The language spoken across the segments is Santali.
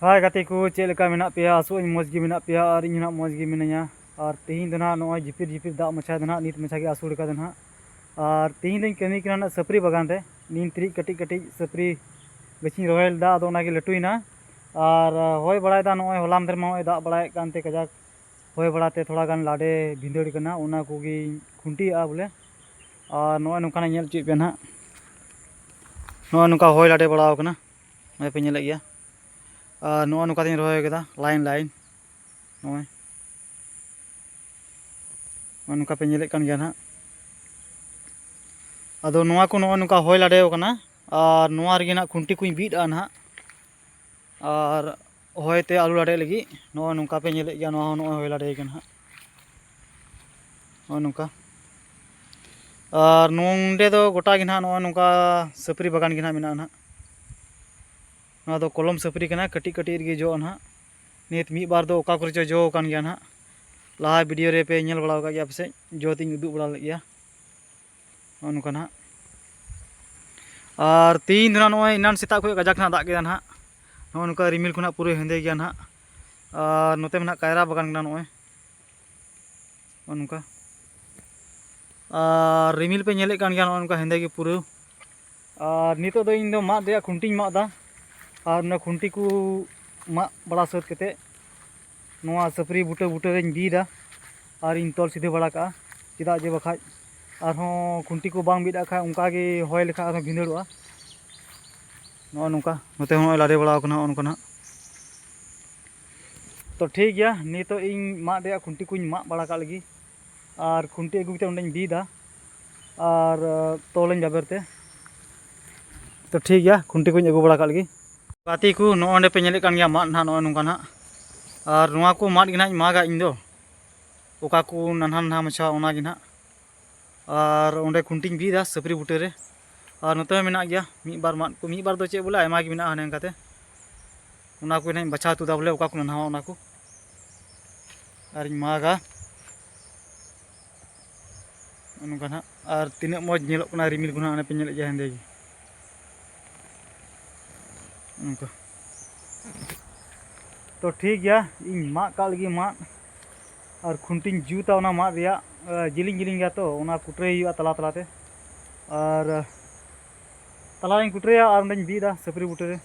ᱦᱟᱭ ᱜᱟᱛᱮ ᱠᱚ ᱪᱮᱫ ᱞᱮᱠᱟ ᱢᱮᱱᱟᱜ ᱯᱮᱭᱟ ᱟᱥᱚᱜ ᱟᱹᱧ ᱢᱚᱡᱽ ᱜᱮ ᱢᱮᱱᱟᱜ ᱯᱮᱭᱟ ᱟᱨ ᱤᱧ ᱦᱚᱸ ᱢᱚᱡᱽ ᱜᱮ ᱢᱤᱱᱟᱹᱧᱟ ᱟᱨ ᱛᱮᱦᱮᱧ ᱫᱚ ᱱᱟᱦᱟᱜ ᱱᱚᱜᱼᱚᱭ ᱡᱷᱤᱯᱤᱨ ᱡᱷᱤᱯᱤᱨ ᱫᱟᱜ ᱢᱟᱪᱷᱟ ᱫᱚ ᱱᱟᱦᱟᱜ ᱱᱤᱛ ᱢᱟᱪᱷᱟ ᱜᱮ ᱟᱹᱥᱩᱲ ᱠᱟᱫᱟ ᱱᱟᱦᱟᱜ ᱟᱨ ᱛᱮᱦᱮᱧ ᱫᱚᱧ ᱠᱟᱹᱢᱤ ᱠᱟᱱᱟ ᱱᱟᱦᱟᱜ ᱥᱟᱹᱯᱨᱤ ᱵᱟᱜᱟᱱ ᱨᱮ ᱱᱤᱢ ᱛᱤᱨᱤᱡ ᱠᱟᱹᱴᱤᱡ ᱠᱟᱹᱴᱤᱡ ᱥᱟᱹᱯᱨᱤ ᱜᱟᱹᱪᱷᱤᱧ ᱨᱚᱦᱚᱭ ᱞᱮᱫᱟ ᱟᱫᱚ ᱚᱱᱟᱜᱮ ᱞᱟᱹᱴᱩᱭᱮᱱᱟ ᱟᱨ ᱦᱚᱭ ᱵᱟᱲᱟᱭᱮᱫᱟ ᱱᱚᱜᱼᱚᱭ ᱦᱚᱞᱟ ᱢᱟᱫᱷᱮᱨ ᱢᱟ ᱱᱚᱜᱼᱚᱭ ᱫᱟᱜ ᱵᱟᱲᱟᱭᱮᱫ ᱠᱟᱱᱛᱮ ᱠᱟᱡᱟᱠ ᱦᱚᱭ ᱵᱟᱲᱟᱛᱮ ᱛᱷᱚᱲᱟ ᱜᱟᱱ ᱞᱟᱰᱮ ᱵᱷᱤᱸᱫᱟᱹᱲ ᱠᱟᱱᱟ ᱚᱱᱟ ᱠᱚᱜᱮᱧ ᱠᱷᱩᱱᱴᱤᱭᱟᱜᱼᱟ ᱵᱚᱞᱮ ᱟᱨ ᱱᱚᱜᱼᱚᱭ ᱱᱚᱝᱠᱟᱱᱟᱜ ᱧᱮᱞ ᱦᱚᱪᱚᱭᱮᱫ ᱯᱮᱭᱟ ᱱᱟᱦᱟᱜ ᱱᱚᱜᱼᱚᱭ ᱱᱚᱝᱠᱟ ᱦᱚᱭ ᱞᱟᱰᱮ ᱵᱟᱲᱟᱣ ᱠᱟᱱᱟ ᱱᱚᱜᱼᱚᱭ ᱯᱮ ᱧᱮᱞᱮᱫ ᱜᱮᱭᱟ ᱟᱨ ᱱᱚᱜᱼᱚᱭ ᱱᱚᱝᱠᱟ ᱛᱤᱧ ᱨᱚᱦᱚᱭ ᱠᱟᱫᱟ ᱞᱟᱭᱤᱱ ᱞᱟᱭᱤᱱ ᱱᱚᱜᱼᱚᱭ ᱱᱚᱜᱼᱚᱭ ᱱᱚᱝᱠᱟ ᱯᱮ ᱧᱮᱞᱮᱫ ᱠᱟᱱ ᱜᱮᱭᱟ ᱱᱟᱦᱟᱜ ᱟᱫᱚ ᱱᱚᱣᱟ ᱠᱚ ᱱᱚᱜᱼᱚᱭ ᱱᱚᱝᱠᱟ ᱦᱚᱭ ᱞᱟᱰᱮ ᱟᱠᱟᱱᱟ ᱟᱨ ᱱᱚᱣᱟ ᱨᱮᱜᱮ ᱱᱟᱦᱟᱜ ᱠᱷᱩᱱᱴᱤ ᱠᱚᱧ ᱵᱤᱫ ᱟᱜᱼᱟ ᱱᱟᱦᱟᱜ ᱟᱨ ᱦᱚᱭ ᱛᱮ ᱟᱞᱚ ᱞᱟᱰᱮᱜ ᱞᱟᱹᱜᱤᱫ ᱱᱚᱜᱼᱚᱭ ᱱᱚᱝᱠᱟ ᱯᱮ ᱧᱮᱞᱮᱫ ᱜᱮᱭᱟ ᱱᱚᱣᱟ ᱦᱚᱸ ᱱᱚᱜᱼᱚᱭ ᱦᱚᱭ ᱞᱟᱰᱮ ᱟᱠᱟᱱᱟ ᱱᱟᱦᱟᱜ ᱱᱚᱜᱼᱚᱭ ᱱᱚᱝᱠᱟ ᱟᱨ ᱱᱚᱰᱮ ᱫᱚ ᱜᱚᱴᱟ ᱜᱮ ᱱᱟᱦᱟᱜ ᱱᱚᱜᱼᱚᱭ ᱱᱚᱝᱠᱟ ᱥᱟᱹᱯᱨᱤ ᱵᱟᱜᱟᱱ ᱜᱮ ᱱᱟᱦᱟᱜ ᱢᱮᱱᱟᱜᱼᱟ ᱱᱟᱦᱟᱜ ᱱᱚᱣᱟ ᱫᱚ ᱠᱚᱞᱚᱢ ᱥᱟᱹᱯᱨᱤ ᱠᱟᱱᱟ ᱠᱟᱹᱴᱤᱡ ᱠᱟᱹᱴᱤᱡ ᱨᱮᱜᱮ ᱡᱚᱜᱼᱟ ᱱᱟᱦᱟᱜ ᱱᱤᱛ ᱢᱤᱫ ᱵᱟᱨ ᱫᱚ ᱚᱠᱟ ᱠᱚᱨᱮ ᱪᱚ ᱡᱚ ᱟᱠᱟᱱ ᱜᱮᱭᱟ ᱱᱟᱦᱟᱜ ᱞᱟᱦᱟ ᱵᱷᱤᱰᱤᱭᱳ ᱨᱮ ᱯᱮ ᱧᱮᱞ ᱵᱟᱲᱟ ᱟᱠᱟᱫ ᱜᱮᱭᱟ ᱯᱟᱥᱮᱡ ᱡᱚ ᱛᱤᱧ ᱩᱫᱩᱜ ᱵᱟᱲᱟ ᱞᱮᱫ ᱜᱮᱭᱟ ᱱᱚᱜᱼᱚ ᱱᱚᱝᱠᱟ ᱱᱟᱦᱟᱜ ᱟᱨ ᱛᱮᱦᱤᱧ ᱫᱚ ᱱᱟᱦᱟᱜ ᱱᱚᱜᱼᱚᱭ ᱮᱱᱟᱱ ᱥᱮᱛᱟᱜ ᱠᱷᱚᱱ ᱠᱟᱡᱟᱠ ᱱᱟᱦᱟᱜ ᱫᱟᱜ ᱠᱮᱫᱟ ᱱᱟᱦᱟᱜ ᱱᱚᱜᱼᱚ ᱱᱚᱝᱠᱟ ᱨᱤᱢᱤᱞ ᱠᱚ ᱱᱟᱦᱟᱜ ᱯᱩᱨᱟᱹ ᱦᱮᱸᱫᱮ ᱜᱮᱭᱟ ᱱᱟᱦᱟᱜ ᱟᱨ ᱱᱚᱛᱮ ᱢᱟ ᱱᱟᱦᱟᱜ ᱠᱟᱭᱨᱟ ᱵᱟᱜᱟᱱ ᱠᱟᱱᱟ ᱱᱚᱜᱼᱚᱭ ᱱᱚᱜᱼᱚ ᱱᱚᱝᱠᱟ ᱟᱨ ᱨᱤᱢᱤᱞ ᱯᱮ ᱧᱮᱞᱮᱫ ᱠᱟᱱ ᱜᱮᱭᱟ ᱱᱚᱜᱼᱚ ᱱᱚᱝᱠᱟ ᱦᱮᱸᱫᱮ ᱜᱮ ᱯᱩᱨᱟᱹ ᱟᱨ ᱱᱤᱛᱚᱜ ᱫᱚ ᱤᱧ ᱫᱚ ᱢᱟᱫ ᱨᱮᱭᱟᱜ ᱠᱷᱩᱱᱴᱤᱧ ᱢᱟᱜ ᱮᱫᱟ ᱟᱨ ᱚᱱᱟ ᱠᱷᱩᱱᱴᱤ ᱠᱚ ᱢᱟᱜ ᱵᱟᱲᱟ ᱥᱟᱹᱛ ᱠᱟᱛᱮᱫ ᱱᱚᱣᱟ ᱥᱟᱹᱯᱨᱤ ᱵᱩᱴᱟᱹ ᱵᱩᱴᱟᱹ ᱨᱮᱧ ᱵᱤᱫᱟ ᱟᱨ ᱤᱧ ᱛᱚᱞ ᱥᱤᱫᱷᱟᱹ ᱵᱟᱲᱟ ᱠᱟᱜᱼᱟ ᱪᱮᱫᱟᱜ ᱡᱮ ᱵᱟᱠᱷᱟᱡ ᱟᱨᱦᱚᱸ ᱠᱷᱩᱱᱴᱤ ᱠᱚ ᱵᱟᱝ ᱵᱤᱫ ᱟᱜ ᱠᱷᱟᱡ ᱚᱱᱠᱟ ᱜᱮ ᱦᱚᱭ ᱞᱮᱠᱷᱟᱡ ᱟᱨᱦᱚᱸ ᱵᱷᱤᱸᱫᱟᱹᱲᱚᱜᱼᱟ ᱱᱚᱜᱼᱚ ᱱᱚᱝᱠᱟ ᱱᱚᱛᱮ ᱦᱚᱸ ᱞᱟᱫᱮ ᱵᱟᱲᱟᱣ ᱠᱟᱱᱟ ᱱᱚᱜᱼᱚ ᱱᱚᱝᱠᱟ ᱱᱟᱜ ᱛᱚ ᱴᱷᱤᱠ ᱜᱮᱭᱟ ᱱᱤᱛᱚᱜ ᱤᱧ ᱢᱟᱫ ᱨᱮᱭᱟᱜ ᱠᱷᱩᱱᱴᱤ ᱠᱚᱧ ᱢᱟᱜ ᱵᱟᱲᱟ ᱠᱟᱜ ᱞᱟᱹᱜᱤᱫ ᱟᱨ ᱠᱷᱩᱱᱴᱤ ᱟᱹᱜᱩ ᱠᱟᱛᱮ ᱚᱸᱰᱮᱧ ᱵᱤᱫᱟ ᱟᱨ ᱛᱚᱞᱟᱹᱧ ᱵᱟᱵᱮᱨ ᱛᱮ ᱛᱚ ᱴᱷᱤᱠ ᱜᱮᱭᱟ ᱠᱷᱩᱱᱴᱤ ᱠᱚᱧ ᱟᱹᱜᱩ ᱵᱟᱲᱟ ᱠᱟᱜ ᱞᱟᱹᱜᱤᱫ ᱜᱟᱛᱮ ᱠᱚ ᱱᱚᱜᱼᱚᱭ ᱚᱸᱰᱮ ᱯᱮ ᱧᱮᱞᱮᱫ ᱠᱟᱱ ᱜᱮᱭᱟ ᱢᱟᱫ ᱱᱟᱦᱟᱜ ᱱᱚᱜᱼᱚᱭ ᱱᱚᱝᱠᱟ ᱱᱟᱦᱟᱜ ᱟᱨ ᱱᱚᱣᱟ ᱠᱚ ᱢᱟᱫ ᱜᱮ ᱱᱟᱦᱟᱜ ᱤᱧ ᱢᱟᱜᱟ ᱤᱧ ᱫᱚ ᱚᱠᱟ ᱠᱚ ᱱᱟᱱᱦᱟ ᱱᱟᱱᱦᱟ ᱢᱟᱪᱷᱟ ᱚᱱᱟ ᱜᱮ ᱱᱟᱦᱟᱜ ᱟᱨ ᱚᱸᱰᱮ ᱠᱷᱩᱱᱴᱤᱧ ᱵᱤᱫᱟ ᱥᱟᱹᱯᱨᱤ ᱵᱩᱴᱟᱹ ᱨᱮ ᱟᱨ ᱱᱚᱛᱮ ᱦᱚᱸ ᱢᱮᱱᱟᱜ ᱜᱮᱭᱟ ᱢᱤᱫ ᱵᱟᱨ ᱢᱟᱫ ᱠᱚ ᱢᱤᱫ ᱵᱟᱨ ᱫᱚ ᱪᱮᱫ ᱵᱚᱞᱮ ᱟᱭᱢᱟ ᱜᱮ ᱢᱮᱱᱟᱜᱼᱟ ᱦᱟᱱᱮ ᱚᱱᱠᱟᱛᱮ ᱚᱱᱟ ᱠᱚ ᱱᱟᱦᱟᱜ ᱤᱧ ᱵᱟᱪᱷᱟᱣ ᱛᱩᱫᱟ ᱵᱚᱞᱮ ᱚᱠᱟ ᱠᱚ ᱱᱟᱱᱦᱟᱣᱟ ᱚᱱᱟ ᱠᱚ ᱟᱨᱤᱧ ᱢᱟᱜᱟ ᱱᱚᱝᱠᱟ ᱱᱟᱦᱟᱜ ᱟᱨ ᱛᱤᱱᱟᱹᱜ ᱢᱚᱡᱽ ᱧᱮᱞᱚᱜ ᱠᱟᱱᱟ ᱨᱤᱢᱤᱞ ᱠᱚ ᱱᱟᱦᱟᱜ ᱚᱱᱮ ᱯᱮ ᱧᱮᱞᱮᱫ ᱜᱮᱭᱟ ᱦᱮᱸᱫᱮ ᱜᱮ ᱱᱚᱝᱠᱟ ᱛᱚ ᱴᱷᱤᱠ ᱜᱮᱭᱟ ᱤᱧ ᱢᱟᱜ ᱠᱟᱜ ᱞᱟᱹᱜᱤᱫ ᱢᱟᱫ ᱟᱨ ᱠᱷᱩᱱᱴᱤᱧ ᱡᱩᱛᱟ ᱚᱱᱟ ᱢᱟᱫ ᱨᱮᱭᱟᱜ ᱡᱤᱞᱤᱧ ᱡᱤᱞᱤᱧ ᱜᱮᱭᱟ ᱛᱚ ᱚᱱᱟ ᱠᱩᱴᱨᱟᱹᱭ ᱦᱩᱭᱩᱜᱼᱟ ᱛᱟᱞᱟ ᱛᱟᱞᱟᱛᱮ ᱟᱨ ᱛᱟᱞᱟᱨᱮᱧ ᱠᱩᱴᱨᱟᱹᱭᱟ ᱟᱨ ᱚᱸᱰᱮᱧ ᱵᱤᱫᱟ ᱥᱟᱹᱯᱨᱤ ᱵᱩᱴᱟᱹᱨᱮ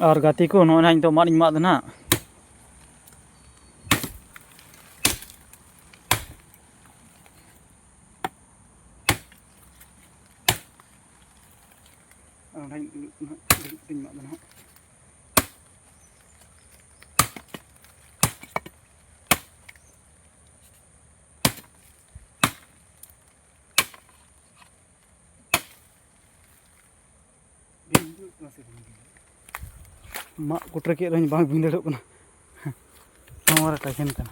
ᱟᱨ ᱜᱟᱛᱮ ᱠᱚ ᱱᱚᱜᱼᱚᱭ ᱱᱟᱦᱟᱜ ᱱᱤᱛᱚᱜ ᱢᱟᱫ ᱤᱧ ᱢᱟᱫ ᱫᱟ ᱱᱟᱦᱟᱜ ᱚᱸᱰᱮᱧ ᱫᱩᱲᱩᱵ ᱠᱟᱛᱮᱧ ᱢᱟᱫ ᱫᱟ ᱱᱟᱦᱟᱜ ᱢᱟᱜ ᱠᱩᱴᱨᱟᱹ ᱠᱮᱫ ᱨᱮᱦᱚᱸᱧ ᱵᱟᱝ ᱵᱷᱤᱸᱫᱟᱹᱲᱚᱜ ᱠᱟᱱᱟ ᱱᱚᱣᱟ ᱨᱮ ᱴᱟᱭᱠᱮᱱ ᱠᱟᱱᱟ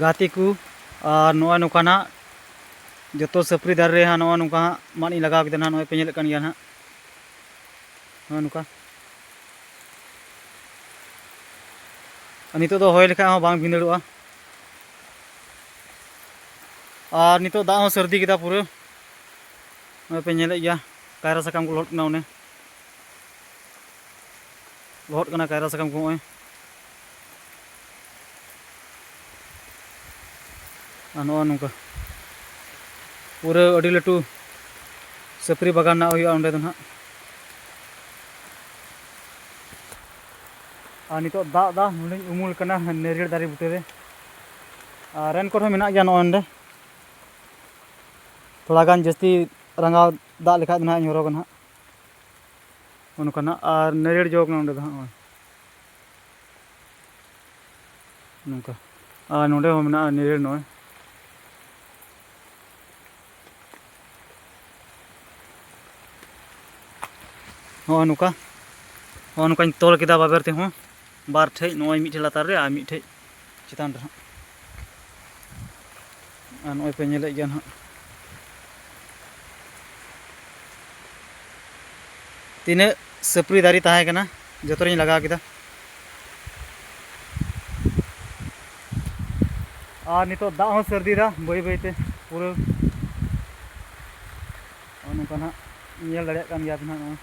ᱜᱟᱛᱮ ᱠᱚ ᱟᱨ ᱱᱚᱜᱼᱚᱭ ᱱᱚᱝᱠᱟ ᱱᱟᱜ ᱡᱚᱛᱚ ᱥᱟᱹᱯᱨᱤ ᱫᱟᱨᱮ ᱨᱮ ᱱᱚᱜᱼᱚᱭ ᱱᱚᱝᱠᱟ ᱦᱟᱸᱜ ᱢᱟᱫ ᱤᱧ ᱞᱟᱜᱟᱣ ᱠᱮᱫᱟ ᱱᱟᱜ ᱱᱚᱜᱼᱚᱭ ᱯᱮ ᱧᱮᱞᱮᱫ ᱠᱟᱱ ᱜᱮᱭᱟ ᱱᱟᱜ ᱱᱚᱜᱼᱚᱭ ᱱᱚᱝᱠᱟ ᱱᱤᱛᱚᱜ ᱫᱚ ᱦᱚᱭ ᱞᱮᱠᱷᱟᱡ ᱦᱚᱸ ᱵᱟᱝ ᱵᱷᱤᱸᱫᱟᱹᱲᱚᱜᱼᱟ ᱟᱨ ᱱᱤᱛᱚᱜ ᱫᱟᱜ ᱦᱚᱸ ᱥᱟᱹᱨᱫᱤ ᱠᱮᱫᱟ ᱯᱩᱨᱟᱹ ᱱᱚᱜᱼᱚᱭ ᱯᱮ ᱧᱮᱞᱮᱫ ᱜᱮᱭᱟ ᱠᱟᱭᱨᱟ ᱥᱟᱠᱟᱢ ᱠᱚ ᱞᱚᱦᱚᱫ ᱠᱟᱱᱟ ᱚᱱᱮ ᱞᱚᱦᱚᱫ ᱠᱟᱱᱟ ᱠᱟᱭᱨᱟ ᱥᱟᱠᱟᱢ ᱠᱚ ᱱᱚᱜᱼᱚᱭ ᱟᱨ ᱱᱚᱜᱼᱚᱭ ᱱᱚᱝᱠᱟ ᱯᱩᱨᱟᱹ ᱟᱹᱰᱤ ᱞᱟᱹᱴᱩ ᱥᱟᱹᱯᱨᱤ ᱵᱟᱜᱟᱱ ᱨᱮᱱᱟᱜ ᱦᱩᱭᱩᱜᱼᱟ ᱚᱸᱰᱮ ᱫᱚ ᱱᱟᱦᱟᱜ ᱟᱨ ᱱᱤᱛᱚᱜ ᱫᱟᱜ ᱫᱟ ᱱᱚᱰᱮᱧ ᱩᱢᱩᱞ ᱠᱟᱱᱟ ᱱᱟᱹᱨᱤᱭᱟᱹᱲ ᱫᱟᱨᱮ ᱵᱩᱴᱟᱹ ᱨᱮ ᱟᱨ ᱨᱮᱱ ᱠᱚᱨᱮ ᱢᱮᱱᱟᱜ ᱜᱮᱭᱟ ᱱᱚᱜᱼᱚᱭ ᱱᱚᱰᱮ ᱛᱷᱚᱲᱟ ᱜᱟᱱ ᱡᱟᱹᱥᱛᱤ ᱨᱟᱸᱜᱟᱣ ᱫᱟᱜ ᱞᱮᱠᱷᱟᱡ ᱫᱚ ᱱᱟᱦᱟᱜ ᱤᱧ ᱦᱚᱨᱚᱜᱟ ᱱᱟᱦᱟᱜ ᱚᱱᱠᱟ ᱱᱟᱜ ᱟᱨ ᱱᱟᱹᱨᱤᱭᱟᱹᱲ ᱡᱚ ᱠᱟᱱᱟ ᱚᱸᱰᱮ ᱫᱚ ᱦᱟᱸᱜ ᱱᱚᱜᱼᱚᱭ ᱱᱚᱝᱠᱟ ᱟᱨ ᱱᱚᱸᱰᱮ ᱦᱚᱸ ᱢᱮᱱᱟᱜᱼᱟ ᱱᱟᱹᱨᱤᱭᱟᱹᱲ ᱱᱚᱜᱼᱚᱭ ᱱᱚᱜᱼᱚᱭ ᱱᱚᱝᱠᱟ ᱱᱚᱜᱼᱚᱭ ᱱᱚᱝᱠᱟᱧ ᱛᱚᱞ ᱠᱮᱫᱟ ᱵᱟᱵᱮᱨ ᱛᱮᱦᱚᱸ ᱵᱟᱨ ᱴᱷᱮᱡ ᱱᱚᱜᱼᱚᱭ ᱢᱤᱫᱴᱷᱮᱡ ᱞᱟᱛᱟᱨ ᱨᱮ ᱟᱨ ᱢᱤᱫᱴᱷᱮᱡ ᱪᱮᱛᱟᱱ ᱨᱮ ᱦᱟᱸᱜ ᱟᱨ ᱱᱚᱜᱼᱚᱭ ᱯᱮ ᱧᱮᱞᱮᱫ ᱜᱮᱭᱟ ᱱᱟᱦᱟᱜ ᱛᱤᱱᱟᱹᱜ ᱥᱟᱹᱯᱨᱤ ᱫᱟᱨᱮ ᱛᱟᱦᱮᱸ ᱠᱟᱱᱟ ᱡᱚᱛᱚ ᱨᱤᱧ ᱞᱟᱜᱟᱣ ᱠᱮᱫᱟ ᱟᱨ ᱱᱤᱛᱚᱜ ᱫᱟᱜ ᱦᱚᱸ ᱥᱟᱹᱨᱫᱤᱭᱮᱫᱟ ᱵᱟᱹᱭ ᱵᱟᱹᱭᱛᱮ ᱯᱩᱨᱟᱹ ᱱᱚᱝᱠᱟ ᱱᱟᱦᱟᱜ ᱧᱮᱞ ᱫᱟᱲᱮᱭᱟᱜ ᱠᱟᱱ ᱜᱮᱭᱟ ᱯᱮ ᱱᱟᱦᱟᱜ ᱱᱚᱣᱟ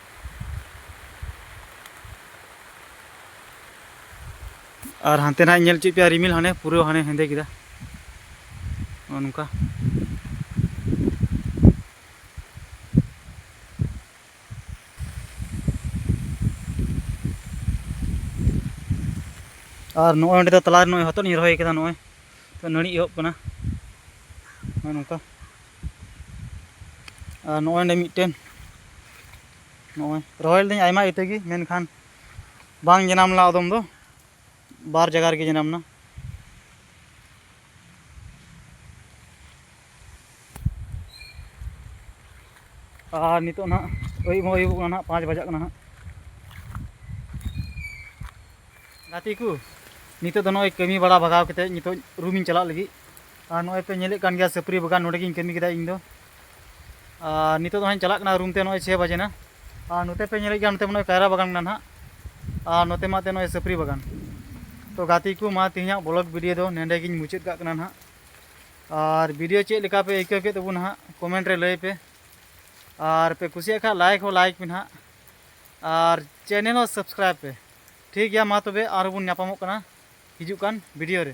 ᱟᱨ ᱦᱟᱱᱛᱮ ᱱᱟᱜ ᱧᱮᱞ ᱪᱮᱫ ᱯᱮᱭᱟ ᱨᱤᱢᱤᱞ ᱦᱟᱱᱮ ᱯᱩᱨᱟᱹ ᱦᱟᱱᱮ ᱦᱮᱸᱫᱮ ᱠᱮᱫᱟ ᱱᱚᱜᱼᱚ ᱱᱚᱝᱠᱟ ᱟᱨ ᱱᱚᱜᱼᱚᱭ ᱚᱸᱰᱮ ᱫᱚ ᱛᱟᱞᱟᱨᱮ ᱱᱚᱜᱼᱚᱭ ᱦᱚᱛᱚᱫ ᱤᱧ ᱨᱚᱦᱚᱭ ᱠᱟᱫᱟ ᱱᱚᱜᱼᱚᱭ ᱛᱚ ᱱᱟᱹᱲᱤ ᱮᱦᱚᱵ ᱠᱟᱱᱟ ᱱᱚᱜᱼᱚᱭ ᱱᱚᱝᱠᱟ ᱟᱨ ᱱᱚᱜᱼᱚᱭ ᱚᱸᱰᱮ ᱢᱤᱫᱴᱮᱱ ᱱᱚᱜᱼᱚᱭ ᱨᱚᱦᱚᱭ ᱞᱤᱫᱟᱹᱧ ᱟᱭᱢᱟ ᱤᱛᱟᱹ ᱜᱮ ᱢᱮᱱᱠᱷᱟᱱ ᱵᱟᱝ ᱡᱟᱱᱟᱢ ᱞᱮᱱᱟ ᱟᱫᱚᱢ ᱫᱚ ᱵᱟᱨ ᱡᱟᱭᱜᱟ ᱨᱮᱜᱮ ᱡᱟᱱᱟᱢ ᱮᱱᱟ ᱟᱨ ᱱᱤᱛᱚᱜ ᱱᱟᱦᱟᱜ ᱟᱹᱭᱩᱵ ᱦᱚᱸ ᱟᱹᱭᱩᱵᱚᱜ ᱠᱟᱱᱟ ᱱᱟᱦᱟᱜ ᱯᱟᱸᱪ ᱵᱟᱡᱟᱜ ᱠᱟᱱᱟ ᱱᱟᱦᱟᱜ ᱜᱟᱛᱮ ᱠᱚ ᱱᱤᱛᱚᱜ ᱫᱚ ᱱᱚᱜᱼᱚᱭ ᱠᱟᱹᱢᱤ ᱵᱟᱲᱟ ᱵᱷᱟᱜᱟᱣ ᱠᱟᱛᱮᱫ ᱱᱤᱛᱚᱜ ᱨᱩᱢᱤᱧ ᱪᱟᱞᱟᱜ ᱞᱟᱹᱜᱤᱫ ᱟᱨ ᱱᱚᱜᱼᱚᱭ ᱯᱮ ᱧᱮᱞᱮᱫ ᱠᱟᱱ ᱜᱮᱭᱟ ᱥᱟᱹᱯᱨᱤ ᱵᱟᱜᱟᱱ ᱱᱚᱰᱮ ᱜᱤᱧ ᱠᱟᱹᱢᱤ ᱠᱮᱫᱟ ᱤᱧ ᱫᱚ ᱟᱨ ᱱᱤᱛᱚᱜ ᱫᱚ ᱦᱟᱸᱜ ᱪᱟᱞᱟᱜ ᱠᱟᱱᱟ ᱨᱩᱢ ᱛᱮ ᱱᱚᱜᱼᱚᱭ ᱪᱷᱮ ᱵᱟᱡᱮ ᱱᱟ ᱟᱨ ᱱᱚᱛᱮ ᱯᱮ ᱧᱮᱞᱮᱫ ᱜᱮᱭᱟ ᱱᱚᱛᱮ ᱢᱟᱱᱮ ᱠᱟᱭᱨᱟ ᱵᱟᱜᱟᱱ ᱢᱮᱱᱟᱜᱼᱟ ᱱᱟᱦᱟᱜ ᱟᱨ ᱱᱚᱛᱮ ᱢᱟ ᱛᱮ ᱱᱚᱜᱼᱚᱭ ᱥᱟᱹᱯᱨᱤ ᱵᱟᱜᱟᱱ ᱛᱚ ᱜᱟᱛᱮ ᱠᱚ ᱢᱟ ᱛᱮᱦᱮᱧᱟᱜ ᱵᱞᱚᱜ ᱵᱷᱤᱰᱤᱭᱳ ᱫᱚ ᱱᱮᱰᱮ ᱜᱤᱧ ᱢᱩᱪᱟᱹᱫ ᱠᱟᱜ ᱠᱟᱱᱟ ᱱᱟᱦᱟᱜ ᱟᱨ ᱵᱷᱤᱰᱤᱭᱳ ᱪᱮᱫ ᱞᱮᱠᱟ ᱯᱮ ᱟᱹᱭᱠᱟᱹᱣ ᱠᱮᱫ ᱛᱟᱵᱚᱱ ᱱᱟᱦᱟᱜ ᱠᱚᱢᱮᱱᱴ ᱨᱮ ᱞᱟᱹᱭ ᱯᱮ ᱟᱨ ᱯᱮ ᱠᱩᱥᱤᱭᱟᱜ ᱠᱷᱟᱱ ᱞᱟᱭᱤᱠ ᱦᱚᱸ ᱞᱟᱭᱤᱠ ᱯᱮ ᱱᱟᱦᱟᱜ ᱟᱨ ᱪᱮᱱᱮᱞ ᱦᱚᱸ ᱥᱟᱵᱥᱠᱨᱟᱭᱤᱵ ᱯᱮ ᱴᱷᱤᱠ ᱜᱮᱭᱟ ᱢᱟ ᱛᱚᱵᱮ ᱟᱨᱦᱚᱸ ᱵᱚᱱ ᱧᱟᱯᱟᱢᱚᱜ ᱠᱟᱱᱟ ᱦᱤᱡᱩᱜ ᱠᱟᱱ ᱵᱷᱤᱰᱤᱭᱳ ᱨᱮ